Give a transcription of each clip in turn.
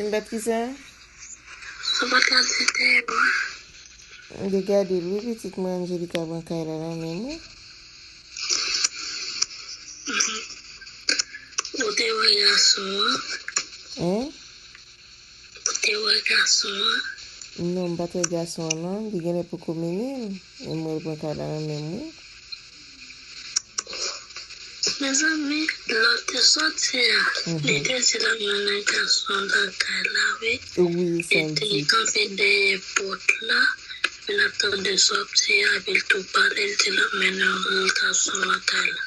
Sim bèt kisa? Ou pat ka di l dèyè bwa. M te gadel wi pitit mwen Angelica pran kay la nan menm wi. Ou te wè gason an? Hein? Ou te wè gason an? Non m pat wè gason an non li genlè poko mennen l men m wè l pran kay la nan menm wi. Mezanmi lòl te sòti a li te di la mennen gason an lakay la wi epi li kanpe dèyè pòt la li ap tande sòti a epi li tou pale li di lap mennen yon gason lakay la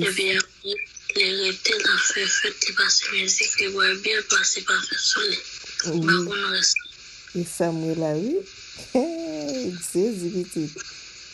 epi aprè li rete lap fè fèt li pase mizik li bwè byè li pase pafim sou li mpa konn rès la. Esam wela wi Hee jezi pitit.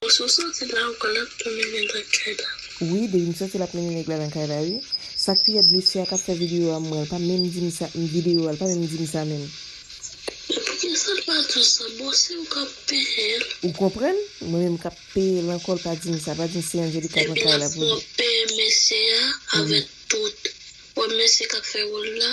Denis ou santi la ou pral ap mennen nèg la kay la. Wi Denis m santi lap mennen nèg la nan kay la wi sak pi rèd mesye a kap fè video a mwen l pa menm dim sa video a l pa menm dim sa menm. Men poukisa l pa diw sa bon se ou kap peyel. Ou konprann mwen menm kap peyel ankò l pa dim sa pa dim se Angelica nan kay la pou li. Denis mwen peye mesye a avèk tout wap mesye kap fè wòl la.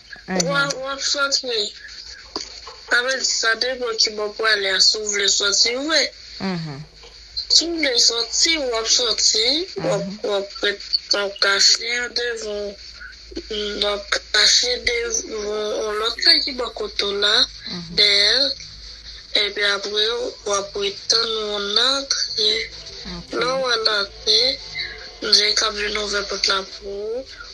Wap wap sot wi. Sa vle di sa depan kibò ou prale a si w vle soti vre si w vle soti wap soti wap ret wap kache an devan wap kache devan yon lòt kay ki bò kote w la dèyè l epi apre wap ret tann moun nan antre lè w wè l antre mnje kap vin ouvè pòt la pou ou.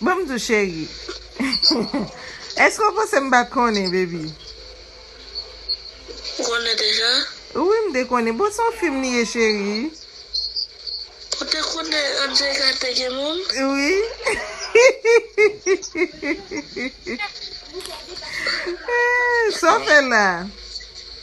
Ban m di w cheri. Eske w panse m pa t konnen baby? Ou konnen deja? Wi m te konnen. Bon se yon fim li ye cheri. Ou te konnen Angelica te gen moun? Wi. Sa w fè la?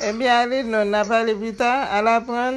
Ebyen ale non nap ale pita al aprann.